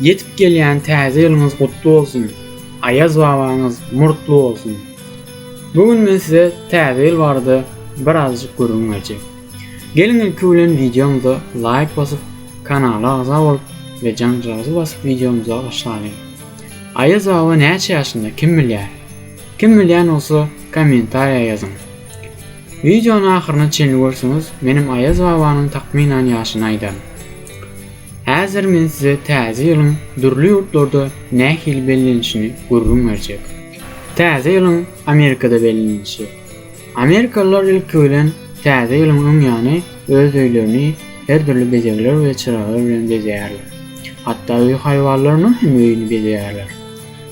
Ýetip gelýän täze ýylyňyz gutly bolsun, Aýaz babaňyz murtly bolsun! Bu gün men size täze ýyl barada birazajyk gürrüň berjek. Geliň ilki bilen wideomyza laýk basyp, kanala agza bolup we janjagazy basyp wideomyza başlalyň. Aýaz baba näçe ýaşynda kim bilýär? Kim bilýän bolsa kommentariýa ýazyň. Wideony ahyryna çenli görseňiz menem Aýaz babanyň takmynan ýaşyny aýdaryn. Häzir men size Täze ýylyň dürli ýurtlarda nähili bellenişini gürrüň berjek. Täze ýylyň Amerikada bellenilişi. Amerikalylar ilki bilen Täze ýylyň öň ýany öz öýlerini her dürli bezegler we çyraglar bilen bezeýärler. Hatda öý haýwanlarynyň hem öýüni bezeýärler.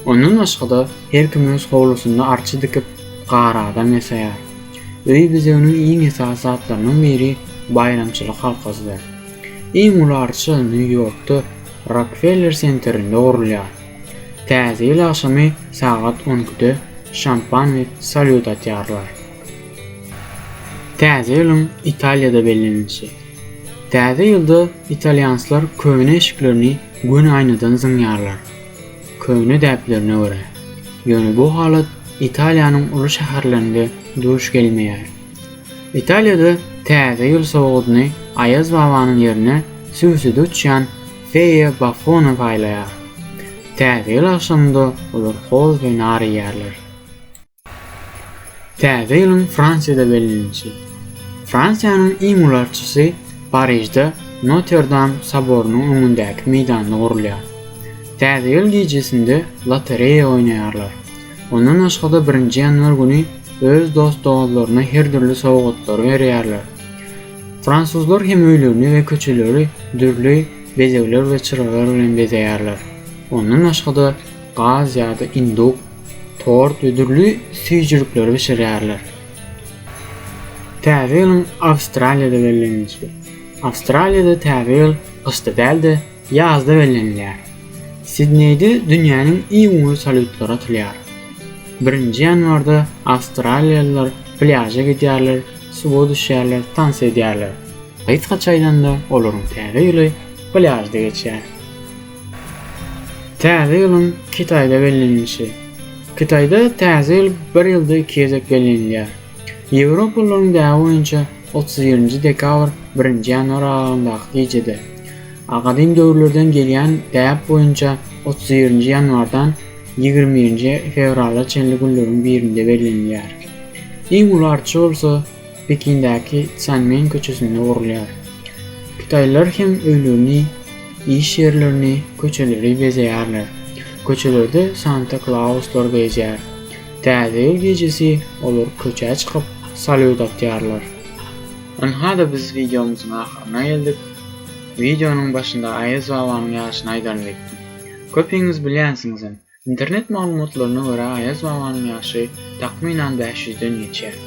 Ondan başga-da her kim öz howlusynda arça dikip, gar adam ýasaýar. Öý bezeginiň iň esasy zatlarynyň biri baýramçylyk halkasydyr. Iň uly arça Nýu-Ýorkda Rokfeller senterinde gurulýar. Täze ýyl agşamy sagat on ikide şampanly salýut atýarlar. Täze ýylyň Italiýada bellenilişi. Täze ýylda italýanslar köne eşiklerini göni aýnadan zyňýarlar, köne däplerine görä. Ýöne bu halat Italiýanyň uly şäherlerinde duş gelmeýär. Italiýada Täze ýyl sowgadyny Aýaz babanyň ýerine sübüside uçýan feýa Bafona paýlaýar. Täze ýyl agşamynda olar hoz we nar iýýärler. Täze ýylyň Fransiýada bellenilişi. Fransiýanyň iň uly arçasy Parižde Noterdam soborynyň öňündäki meýdanda gurulýar. Täze ýyl gijesinde lotereýa oýnaýarlar. Mundan başga-da birinji ýanwar güni öz dost-doganlaryna her dürli sowgatlary berýärler. Fransuzlar hem öýlerini we köçeleri dürli bezegler we çyralar bilen bezeýärler. Ondan başga-da gaz ýa-da induk, tort we dürli süýjülikleri bişirýärler. Täze ýylyň Awstraliýada bellenilişi. Awstraliýada Täze ýyl gyşda däl-de, Ýazda bellenilýär. Sidneýde dünýäniň iň uly salýutlary atylýar. Birinji ýanwarda awstraliýalylar plýaža gidýärler, suwa düşýärler, tans edýärler. Gysgaça aýdanda, olaryň Täze ýyly plýažda geçýär. Täze ýylyň Kitaýda bellenilişi. Kitaýda Täze ýyl bir ýylda iki gezek bellenilýär. Ýewropalylaryň däbi boýunça otuz birinji dekabr, birinji ýanwar aralygyndaky gijede, a gadym döwürlerden gelýän däp boýunça otuz birinji ýanwardan ýigrimi birinji fewrala çenli günleriň birinde bellenilýär. Iň uly arça bolsa Pekindäki Tsanmen köçesinde gurulýar. Kitaýlylar hem öýlerini, iş ýerlerini, köçeleri bezeýärler. Köçelerde Santa Klauslar gezýär. Täze ýyl gijesi olar köçä çykyp salýut atýarlar. Ynha-da biz wideomyzyň ahyryna geldik. Wideonyň başynda Aýaz babanyň ýaşyny aýdaryn diýipdim. Köpiňiz bilýänsiňizem, internet maglumatlaryna görä Aýaz babanyň ýaşy takmynan bäş ýüzden geçýär.